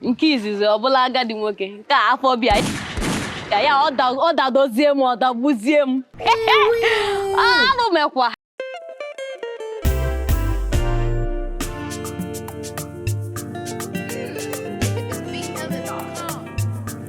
nke izizi ọ bụlụ agadi nwoke nke afọ bịa ka ya ọ dadozie m ọ dagbuzie m arụ emekwa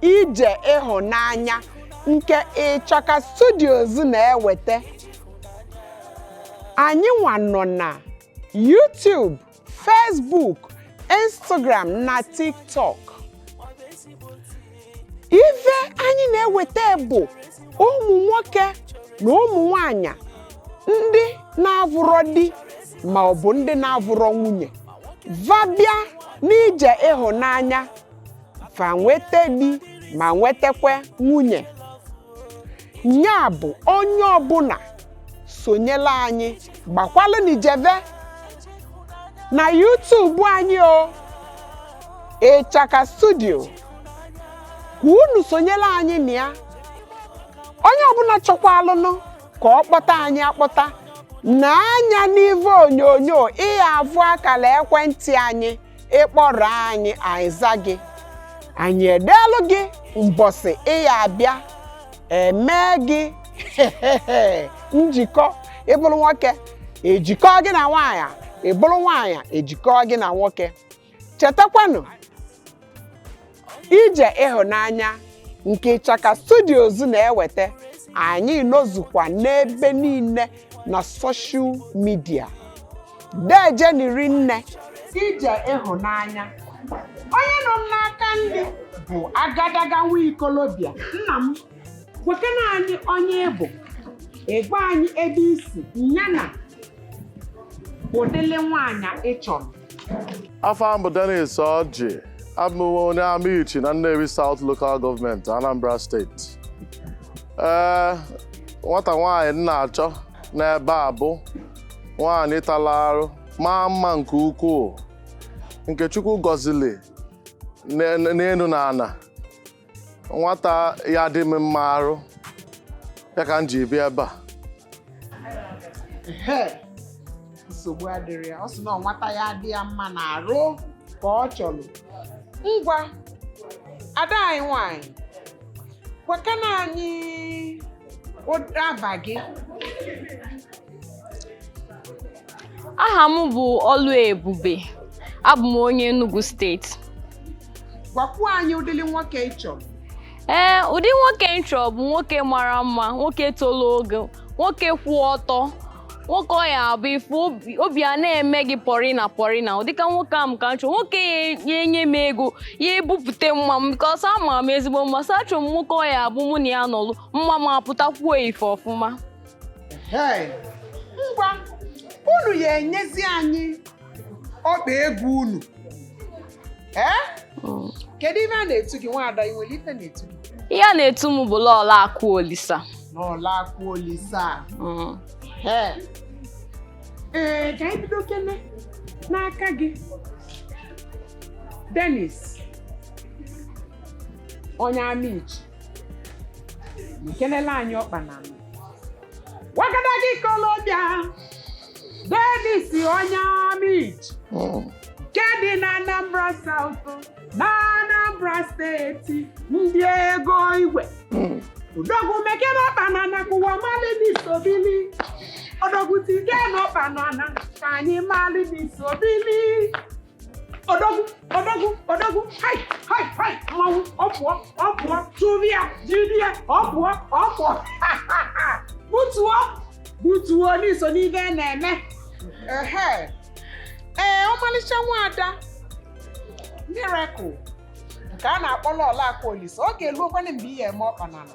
ije ịhụnanya nke ịchaka studios na-eweta anyị nwa nọ na YouTube Facebook Instagram na TikTok ife anyị na-eweta bụ ụmụ nwoke na ụmụ nwanyị ndị na-avụrọ di ma ọ bụ ndị na-avụrọ nwunye va bịa n'ije ịhụnanya fa nweta di ma nwetakwa nwunye nya bụ onye ọbụla sonyela anyị gbakwalụnụ jeve na YouTube anyị o ịchaka studio ka unu sonyela anyị na ya onye ọbụla chọkwalụnụ ka ọ kpọta anyị akpọta nee anya n'ive onyonyo ị ya-avụ akala ekwentị anyị ị kpọrọ anyị anyị aza gị anyị edeelụ gị mbọsị ị ya-abịa emee gị njikọ ị bụrụ nwoke ejikọ gị na nwaanyị ị bụrụ nwaanyị ejikọ gị na nwoke chetakwanụ ije ịhụnanya nke Ịchaka Studios na-eweta anyị nọzukwa n'ebe niile na soshal midia dejeni rinne ije ịhụnanya onye nọ m n'aka nri bụ agadaga nwa ikolobịa nna m gwakene anyị onye ị bụ ị gwa anyị ebe i si yana ụdịlị nwaanyị ị chọrọ afa m bụ Dennis Ọjị abụ m onye Amichi na Nnewi South Local Government Anambra Steeti ee eh, nwata nwaanyị m na-achọ n'ebe a bụ nwaanyị tara arụ maa mma nke ukwuu nke Chukwu gọzili n'enu na ana nwata ya-adị m mma n'arụ ya ka m ji bịa ebe a Ehe, nsogbu adịrọ ya ọ sị na ọ nwata ya-adị ya mma n'arụ ka ọ chọrọ ngwa ada anyị nwanyị gwakene anyị ụda ava gị Aha m bụ Ọlụebube. Abụ m onye Enugu steeti. Gwakwuo anyị ụdịrị nwoke ị chọrọ. Ee, ụdị nwoke m chọrọ bụ nwoke mara mma, nwoke tolo ogo, nwoke kwụ ọtọ, nwoke ọ ya abụ ị fụ ya obi a na-eme gị pọrịna pọrịna ụdịka nwoke ahụ ka m chọrọ nwoke ya enye m ego ya ebupụta mma m because ama m ezigbo mma so achọrọ m nwoke ọ ya abụ mụ na ya nọlụ mma m apụtakwuo ife ọfụma ngwa unu ya enyezi anyị ọkpa egwu unu hmm. kedu ife a na-etu gị nwaada i nwere ife a na-etu gị ihe a na-etu m bụ Lọọlọ Akụ Olisa Lọọlọ Akụ Olisa hmm. ee eh, ka anyị bidokene n'aka gị Dennis onye Amichi ekelela anyị ọkpa na wagadagị ikolobịa Dennis onye Amichi Mm. nke dị na Anambra South na Anambra steeti ndị ego igwe Mm. odogwu mekene ọkpa n'ana ka ụwa malị na i so bili odogwu tikene ọkpa n'ana ka anyị malị na i so bili odogwu odogwu odogwu hai hai hai mmanwụ ọ pụọ ọ pụọ tụrụ ya jiri ya ọ pụọ ọ pụọ butuo butuo na i so n'ife a na-eme ehe ee ọmalịcha nwaada Miracle nke a na-akpọ Lọọlọ Akụ Olisa ọ ga-eluokwanụ mgbe ị ya-eme ọkpa n'ala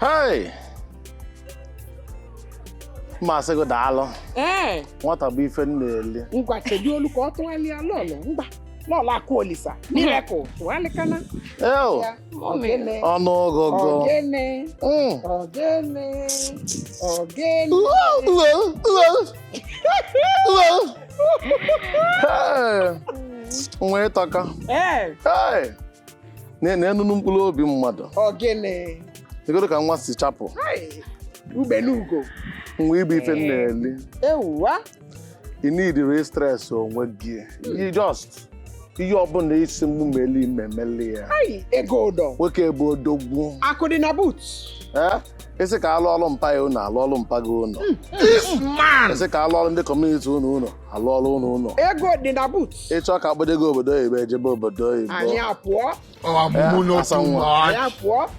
Hey! Masị gị daalụ. ee Nwata bụ ife m na-eli. ngwa chedolu ka ọ tụgharịa Lọọlọ ngwa Lọọlọ Akụ Olisa Miracle tụgharịkene Eo! ya ogene Ọnụ ọgụgụ. ogene Mm. ogene ogene Uwe, uwe, uwe. nwa ị tọka na-enunu mkpụrụ obi mmadụ negodu ka nwa si chapụ ugbene ugo nwa ị bụ ife na-eli i needirọ stress onwe gị just ihe ọbụla ị sị mụ meli m emeli ya ego ụdọ nwoke bụ odogwu akụ dị na boot ị sị ka a lụọrụ mpa ya ụnọ a lụọrụ mpa gị ụnọ ị sị ka a lụọrụ ndị community unu ụnọ a lụọrụ unu ụnọ ego dị na boot ị chọọ ka a gbado gị obodo oyibo e jebe obodo oyibo anyị apụọ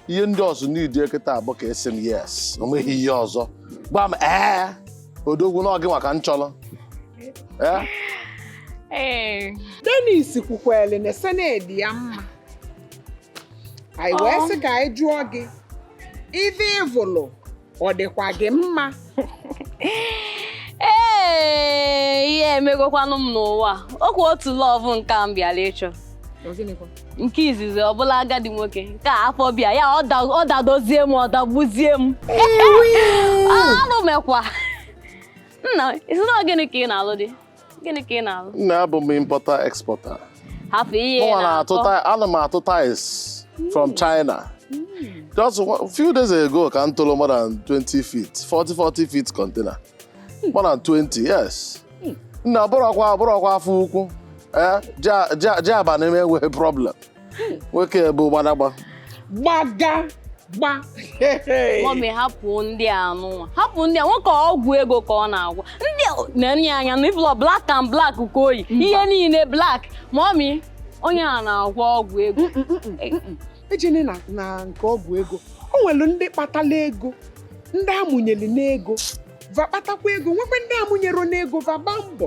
ihe ndị ọzọ m needi kịtaa bụ ka ị sị m yes o nweghị ihe ọzọ gwa m ee odogwu na ọ gịnwa ka m chọrọ ee Dennis kwukwere na senedi ya mma anyị wee sị ka anyị jụọ gị ife ị vụlụ ọ dịkwa gị mma ee ihe emegokwanụ m n'ụwa okwu otu love nke m bịara ịchọ nke izizi ọ bụlụ agadi nwoke nke afọ bịa ya ọ dadozie m ọ dagbuzie m anụ mekwa nna ị sị na gịnị ka ị na-alụ dị gịnị ka ị na-alụ nne abụ m importer exporter hafụ ihe mụnwa na-atụ na-akọ ti- ana m atụ tiles from China just one- few days ago ka m tụrụ more than 20 feet 40 40 feet container more than 20 yes nna bụrọkwa bụrọkwa afọ ukwu eh, ji- ji ji abana m enweghị problem nwoke bụ gbadagba gbaga gba mọmi hapụ ndị a anụnwa hapụ ndị a nwoke ọgwụ ego ka ọ na-agwọ ndị na-enye anya na ị fụlọ black and black ka o yi ihe niile black mọmi onye a na-agwọ ọgwụ ego mm, mm, mm, ejene na nke ọgwụ ego o nwere ndị kpatala ego ndị a mụnyere n'ego va kpatakwa ego nwekwa ndị a mụnyere n'ego va gbaa mbọ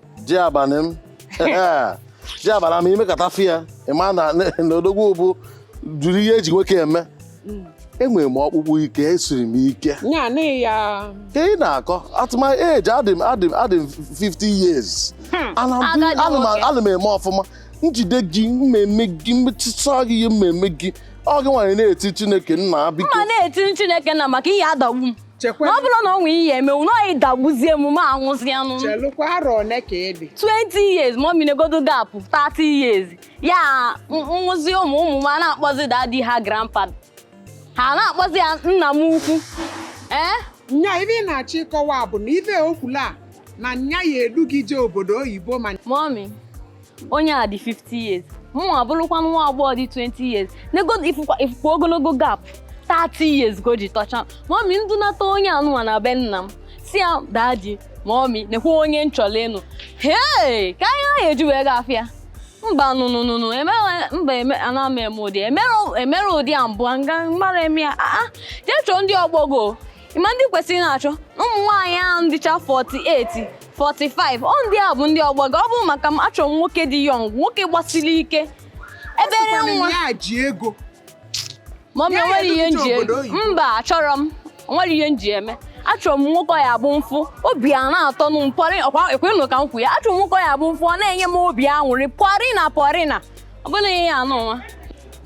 ji abana m ji abana m i mekata fi ya ị ma na odogwu bujuru ihe e ji nwoke eme mm. enwere m ọkpụkpụ ike esiri m ike ka ị na-akọ at my age adị m 50 years hmm. ana m eme ọfụma m jide gị m meme gị m metụta gị ihe m meme gị ọ gịnwa ya na-eti Chineke nna biko na-eti Chineke nna maka ị ya-adagbu m chekwa na ọ bụrụ na o nwee ihe mewenụ ị dagbuzie m mụ anwụzie anwụ chelụkwa arọ one ka ị dị 20 years mọmi negodo gap 30 years ya m mụzie ụmụ ụmụ m ana-akpọzi dadi ha grandpa ha na-akpọzi ya nna m ukwu ee nya ive ị na-achọ ịkọwa bụ na ive o kwulu a na nya ya-edu gị jee obodo oyibo ma mọmi onye a dị 50 years mụ abụrụkwa nwa agbọghọ dị 20 years negodo ị fụkwa ogologo gap 30 years ka o ji tọcha mọmi m dunata onye anụnwa na be nna m sị ya dadi mọmi nekwa onye m chọlụ ịnụ hee ka anyị ahụ eji wee gafe ya mba no no no no mba ana m eme ụdị emere ụdị a mbụ nga mmadụ eme ya aa jee chọọ ndị ọgbọ gị ị ma ndị ị kwesịrị na-achọ ụmụ nwaanyị ahụ dịcha 48 45 ọ ndị a bụ ndị ọgbọ gị ọ bụ maka m achọrọ m nwoke dị young nwoke gbasiri ike ebere Asịkwana nwa ya ji ego ma ọ bụ Ya enwere ihe edozi nji obodo oyibo. mba achọrọ m nwere ihe m ji eme achọrọ m nwoke ya-abụ m fụ obi ana-atọ m pọrị ọkwa ekwenụ ka m kwuo ya achọrọ m nwoke ya-abụ m fụ ọ na-enye m obi aṅụrị pọrịna pọrịna ọ bụrọ ihe a anụnwa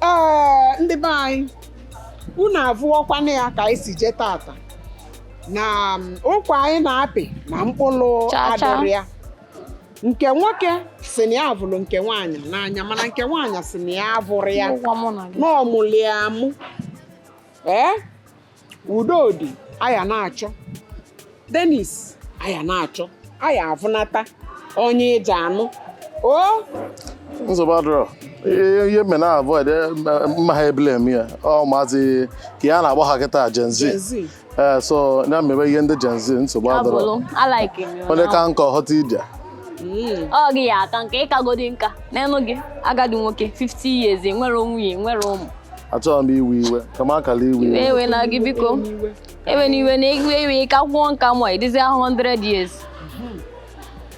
ee ndị be anyị unu avụọkwana ya ka anyị si jee tata na um, ụkwa anyị na-apị na mkpụlụ Cha cha. adịrọ ya nke nwoke sị na ya vụlụ nke nwaanyị n'anya mana nke nwaanyị sị na ya avụrọ ya Ụgwọ mụ na gị. na ọmụlị amụ ee Udodi aya na-achọ Denis aya na-achọ aya avụnata onye ị ja-anụ o nsogbu adịrọ ihe ihe mme na avoid eh, mma- mma ha ebule eme ya ọ maazị ka ya na-agba ha kịta Gen Z Gen Z. ee so ya mebe ihe ndị Gen Z nsogbu adịrọ Abụlụ, alaiki m ya. onye ka nkọ ghọta ije Mm. Ọ gị ya aka nka ị kagodi nka nene gị agadi nwoke 50 years nwere nwunye nwere ụmụ achọghị m iwe iwe ka m akala iwe iwe ewena gị biko ewena iwe na iwe iwe ka gwụọ nka mụ ịdịzi ahụ 100 years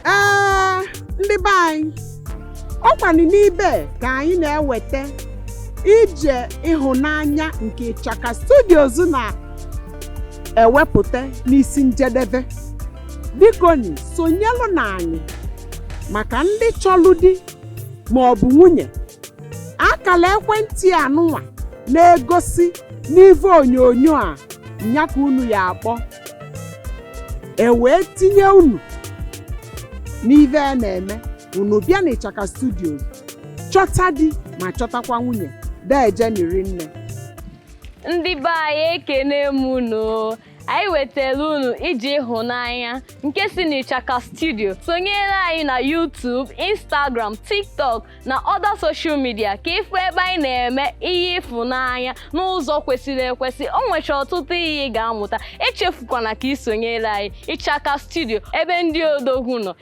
ee ndị be anyị ọkwanụ n'ibe ka anyị na-eweta Ije Ịhụnanya nke Ịchaka Studios na-ewepụta n'isi njedebe bikoni sonyelụnụ anyị maka ndị chọlụ di ma ọ bụ nwunye akala ekwentị anụnwa na-egosi n'ive onyonyo a nya ka unu ya akpọ e wee tinye unu n'ive a na-eme unu bịa na Ịchaka Studios chọta di ma chọtakwa nwunye dejeni rinne ndị be anyị ekene m unu anyị wetara unu Ije Ịhụnanya nke si n'Ịchaka Studio sonyere anyị na YouTube, Instagram, TikTok na other social media ka ị fụ ebe anyị na-eme ihe ịfụnanya n'ụzọ kwesịrị ekwesị o nwecha ọtụtụ ihe ị ga-amụta echefukwana ka ị sonyere anyị Ịchaka Studio ebe ndị odogwu nọ